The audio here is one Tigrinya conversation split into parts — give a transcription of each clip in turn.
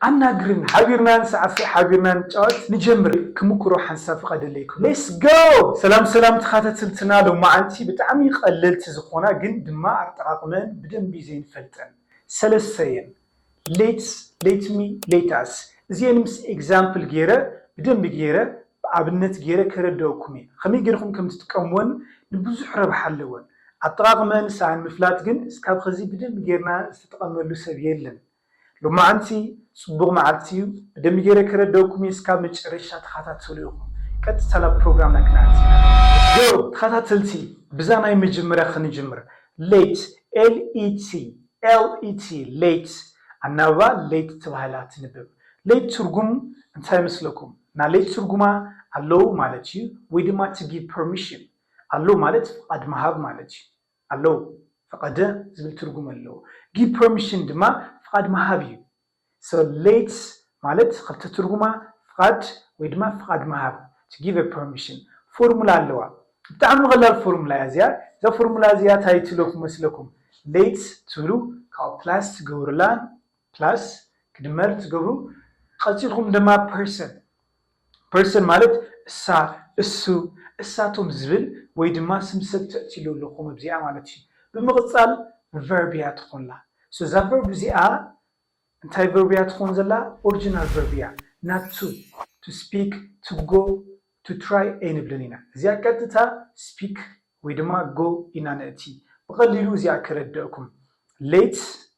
ኣናግርኒ ሓቢርና ንሳዕስዕ ሓቢርና ንጫወት ንጀምር ክምኩሮ ሓንሳብ ፍቀደለይ ክብሎ ሌስ ጎው። ሰላም ሰላም ተኻተትልትና ሎማዓንቲ ብጣዕሚ ቀለልቲ ዝኾና ግን ድማ ኣጠቃቅመእን ብደንቢ ዘይንፈልጠን ሰለስተ እየን ሌትስ ሌትሚ ሌታስ እዚኤን ምስ ኤግዛምፕል ገይረ ብደንቢ ገይረ ብኣብነት ገይረ ከረደኦኩም እየ ኸመይ ገይርኹም ከምትጥቀምወን ንብዙሕ ረብሓ ኣለወን ኣጠቃቅመእን ሰኣን ምፍላጥ ግን እስካብ ኸዚ ብደንቢ ገይርና ዝተጠቀመሉ ሰብ የለን ሎማዓንቲ ፅቡቅ ማዓልቲ እዩ ብደምቢ ገይረ ከረደእኩም እየ እስካብ መጨረሻ ተካታተሉ ኢኩም ቀጥታ ናብ ፕሮግራምና ክነኣቲ ኢና Go ተካታተልቲ ብዛ ናይ መጀመርያ ክንጅምር ለይት LET LET ለይት ኣናብባ ለይት ተባሂላ ትንብብ ለይት ትርጉም እንታይ ይመስለኩም ናለይት ትርጉማ ኣለው ማለት እዩ ወይ ድማ to give permission ኣለው ማለት ፍቃድ ምሃብ ማለት እዩ። ኣለው። ፈቐደ ዝብል ትርጉም ኣለው። ጊቭ ፐርሚሽን ድማ ፍቓድ ምሃብ እዩ። So let ማለት ኽልተ ትርጉማ ፍቓድ ወይ ድማ ፍቓድ ምሃብ to give a permission። ፎርሙላ ኣለዋ። ብጣዕሚ ቐላል ፎርሙላ እያ እዚኣ። እዛ ፎርሙላ እዚኣ ታይ ትብለኩም መስለኩም? let ትብሉ ካብኡ ፕላስ ትገብሩላ ፕላስ ክድመር ትገብሩ ቐፂልኩም ድማ ፐርሰን ፐርሰን ማለት እሳ እሱ እሳቶም ዝብል ወይ ድማ ስም ሰብ ተእትይሉ ኣለኹም ኣብዚኣ ማለት እዩ ብምቕፃል ቨርብ እያ ትኾላ ሶ እዛ ቨርብ እዚኣ እንታይ ቨርብ እያ ትኾን ዘላ ኦርጅናል ቨርብ እያ ናቱ ቱ ስፒክ ቱ ጎ ቱ ትራይ ኣይንብልን ኢና እዚኣ ቀጥታ ስፒክ ወይ ድማ ጎ ኢና ነእቲ ብቐሊሉ እዚኣ ከረደእኩም ሌት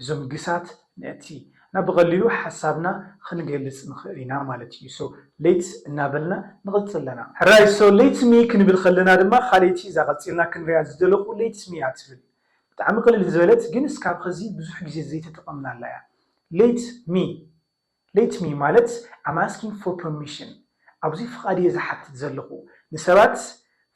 እዞም ግሳት ምእንቲ እና ብቐሊሉ ሓሳብና ኽንገልጽ ንኽእል ኢና ማለት እዩ so lets እናበልና ንቕጽል ኣለና። ሕራይ so lets me ክንብል ኸለና ድማ ኻልእቲ እዛ ቐጺልና ክንሪኣ ዝደለኹ lets me እያ ትብል ብጣዕሚ ቕልል ዝበለት ግን እስካብ ኸዚ ብዙሕ ግዜ ዘይተጠቐምናላ እያ lets me Let me ማለት I'm asking for permission ኣብዚ ፍቓድ እየ ዝሓትት ዘለኹ፣ ንሰባት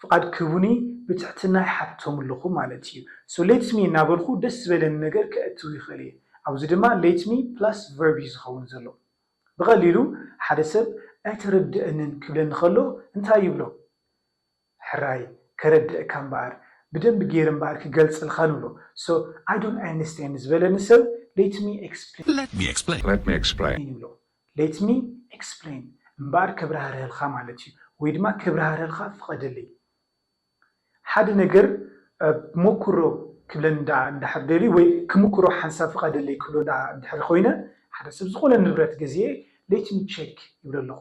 ፍቓድ ክህቡኒ ብትሕትና ይሓትቶም ኣለኹ ማለት እዩ። So let me እናበልኩ ደስ ዝበለኒ ነገር ከእትው ይኽእል እየ። ኣብዚ ድማ let me plus verb እዩ ዝኸውን ዘሎ። ብቐሊሉ ሓደ ሰብ ኣይተረድኣንን ክብለኒ ከሎ እንታይ ይብሎ? ሕራይ ከረድእካ እምበኣር ብደንቢ ገይረ እምበኣር ክገልጽልካ ንብሎ so I don't understand ዝበለኒ ሰብ let me explain Let me explain Let me explain ይብሎ let me explain እምበኣር ከብራህርሀልካ ማለት እዩ ወይ ድማ ከብራህርሀልካ ፍቐደለይ ሓደ ነገር ሞክሮ ክብለኒ ደኣ እንድሕር ደልዩ ወይ ክምክሮ ሓንሳብ ፍቐደለይ ክብሎ ደኣ እንድሕር ኮይነ ሓደ ሰብ ዝኾነ ንብረት ገዚኤ let me check ይብሎ ኣለኹ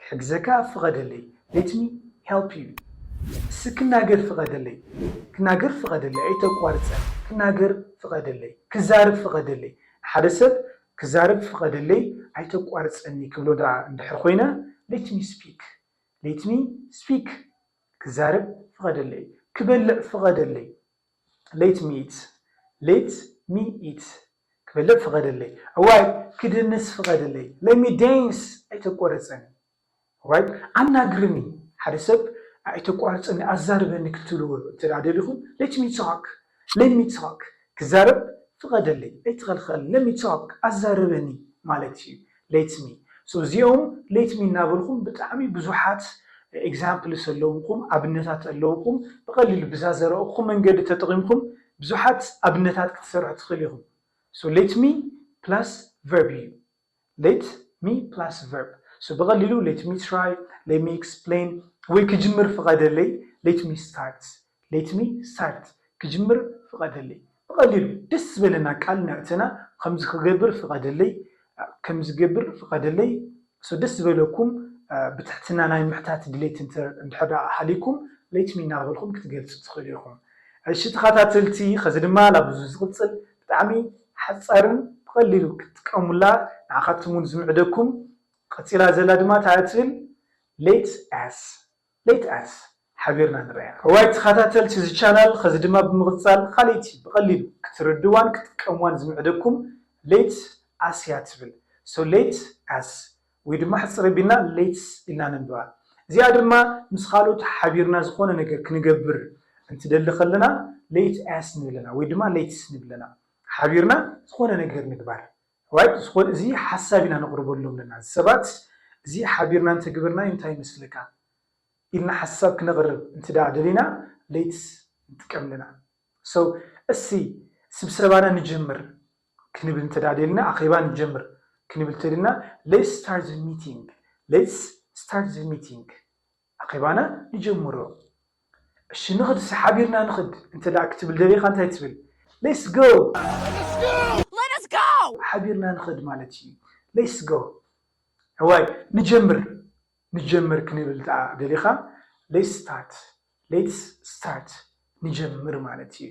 ክሕግዘካ ፍቐደለይ Let me help you እስኪ ክናገር ፍቐደለይ ክናገር ፍቐደለይ ኣይተቋርፀ ክናገር ፍቐደለይ ክዛረብ ፍቐደለይ ንሓደ ሰብ ክዛረብ ፍቐደለይ ኣይተቋርፀኒ ክብሎ ደኣ እንድሕር ኮይነ Let me speak Let me speak ክዛረብ ፍቐደለይ ክበልዕ ፍቐደለይ Let me eat Let me eat ክበልዕ ፍቐደለይ እዋይ ክድንስ ፍቐደለይ Let me dance ኣይተቋርጸኒ እዋይ ኣናግርኒ ሓደ ሰብ ኣይተቋርጸኒ ኣዛርበኒ ክትብልዎ እንተ ደሊኹም Let me talk Let me talk ክዛረብ ፍቐደለይ ኣይትኸልኸለኒ Let me talk ኣዛርበኒ ማለት እዩ ሌትስ ሚ ሶ እዚኦም ሌት ሚ እናበልኩም ብጣዕሚ ብዙሓት ኤግዛምፕልስ ኣለውኹም ኣብነታት ኣለውኹም ብቐሊሉ ብዛ ዘረእኹም መንገዲ ተጠቒምኩም ብዙሓት ኣብነታት ክትሰርሑ ትኽእሉ ኢኹም ሶ ሌት ሚ ፕላስ ቨርብ እዩ ሌት ሚ ፕላስ ቨርብ ሶ ብቐሊሉ ሌት ሚ ትራይ ሌት ሚ ኤክስፕሌን ወይ ክጅምር ፍቐደለይ ሌት ሚ ስታርት Let me start ክጅምር ፍቐደለይ ብቐሊሉ ደስ ዝበለና ቃል ነዕተና ኸምዚ ክገብር ፍቐደለይ ከምዚ ገብር ፍቐደለይ so ደስ ዝበለኩም ብትሕትና ናይ ምሕታት ድሌት እንድሕር ደኣ ሃልይኩም Let me እናበልኹም ክትገልጹ ትኽእሉ ኢኹም እሺ ተኸታተልቲ ኸዚ ድማ ላብዚ ዝቕጽል ብጣዕሚ ሓጻርን ብቐሊሉ ክትጥቀሙላ ንዓኻትኩም ውን ዝምዕደኩም ቐጺላ ዘላ ድማ ታይ እያ ትብል Let us Let us ሓቢርና ንርኣያ። እዋይ ተኻታተልቲ እዚ ቻናል ኸዚ ድማ ብምቕጻል ኻልእቲ ብቐሊሉ ክትርድዋን ክትጥቀምዋን ዝምዕደኩም Let us እያ ትብል so Let us ወይ ድማ ሕጽር ኣቢልና Let's ኢልና ነንብባ እዚኣ ድማ ምስ ኻልኦት ሓቢርና ዝኾነ ነገር ክንገብር እንትደሊ ኸለና Let us ንብለና ወይ ድማ Let's ንብለና ሓቢርና ዝኾነ ነገር ምግባር ኣሕዋይ ብዝኮነ እዚ ሓሳብ ኢና ነቅርበሎም ኣለና እዚ ሰባት እዚ ሓቢርና እንተግብርናዩ እንታይ ይመስለካ ኢልና ሓሳብ ክነቅርብ እንትዳኣ ደሊና ለይት ንጥቀም ኣለና so እስቲ ስብሰባና ንጀምር ክንብል እንተዳኣ ደሊና ኣኼባ ንጀምር ክንብል ተደልና let's start the meeting let's start the meeting ኣኼባና ንጀምሮ እሺ ንኽድ እስኪ ሓቢርና ንኽድ እንተ ክትብል ደሊኻ እንታይ ትብል ሌትስ ጎው። ሓቢርና ንኸድ ማለት እዩ ሌትስ ጎ እዋይ ንጀምር ንጀምር ክንብል ደኣ ደሊኻ ሌትስ ስታርት ሌትስ ስታርት ንጀምር ማለት እዩ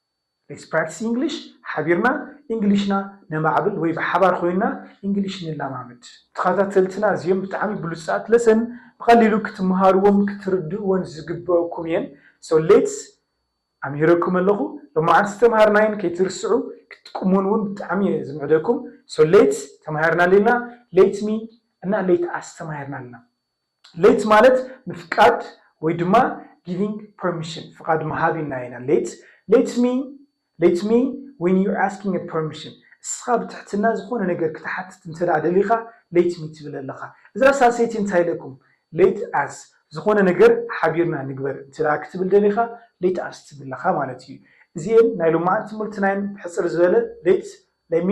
Let's practice English ሓቢርና ኢንግሊሽና ነማዕብል ወይ ብሓባር ኮይንና ኢንግሊሽ ንለማመድ። ተኸታተልትና እዚኦም ብጣዕሚ ብሉጻት ለሰን ብቐሊሉ ክትመሃርዎን ክትርድእዎን ዝግበእኩም እየን so let's ኣምሂረኩም ኣለኹ ሎማዓንቲ ዝተምሃርናየን ከይትርስዑ ክትጥቅሙወን እውን ብጣዕሚ እየ ዝምዕደኩም so let's ተማሂርና ኣለና let me እና let us ተማሂርና ኣለና። ሌት ማለት ምፍቃድ ወይ ድማ ጊቪንግ ፐርሚሽን ፍቓድ ምሃብ ኢልና ኢና ሌት ሌት ሚ ሌት ሚ ዌን ዩር ኣስኪንግ እ ፐርሚሽን እስኻ ብትሕትና ዝኾነ ነገር ክትሓትት እንተድኣ ደሊኻ ሌት ሚ ትብል ኣለኻ እዛ ሳልሰይቲ እንታይ ኢለኩም ሌት ኣስ ዝኾነ ነገር ሓቢርና ንግበር እንተድኣ ክትብል ደሊኻ ሌት ኣስ ትብል ኣለኻ ማለት እዩ እዚኤን ናይ ሎማዓንቲ ትምህርትና እየን ብሕጽር ዝበለ ሌት ሌት ሚ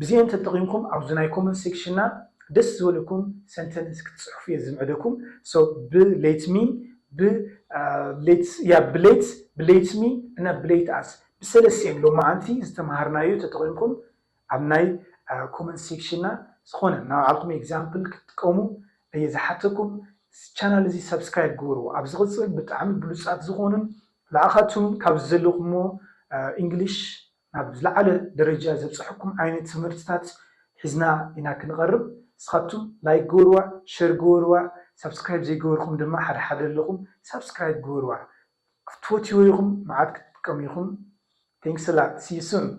ብዚኤን ተጠቂምኩም ኣብዚ ናይ ኮመንት ሴክሽንና ደስ ዝበለኩም ሰንተንስ ክትጽሕፉ እየ ዝምዕደኩም so ብ let me ብ let yeah ብ let ብ let me እና ብ let us ብሰለስቲኤን ሎማዓንቲ ዝተማሃርናዮ ተጠቂምኩም ኣብ ናይ ኮመንት ሴክሽንና ዝኮነ ናይ ባዕልኩም ኤግዛምፕል ክትጥቀሙ እየ ዝሓተኩም እዚ ቻናል እዚ ሳብስክራይብ ግበርዎ ኣብ ዝቅጽል ብጣዕሚ ብሉጻት ዝኮኑን ንዓካቱም ካብዚ ዘለኩሞ ኢንግሊሽ ናብ ዝለዓለ ደረጃ ዘብጸሐኩም ዓይነት ትምህርትታት ሒዝና ኢና ክንቐርብ እስኻትኩም ላይክ ግበርዋ ሸር ግበርዋ ሳብስክራይብ ዘይገበርኩም ድማ ሓደ ሓደ ኣለኹም ሳብስክራይብ ግበርዋ ክትፈትይዎ ኢኹም መዓት ክትጥቀሙ ኢኹም Thanks a lot! See you soon!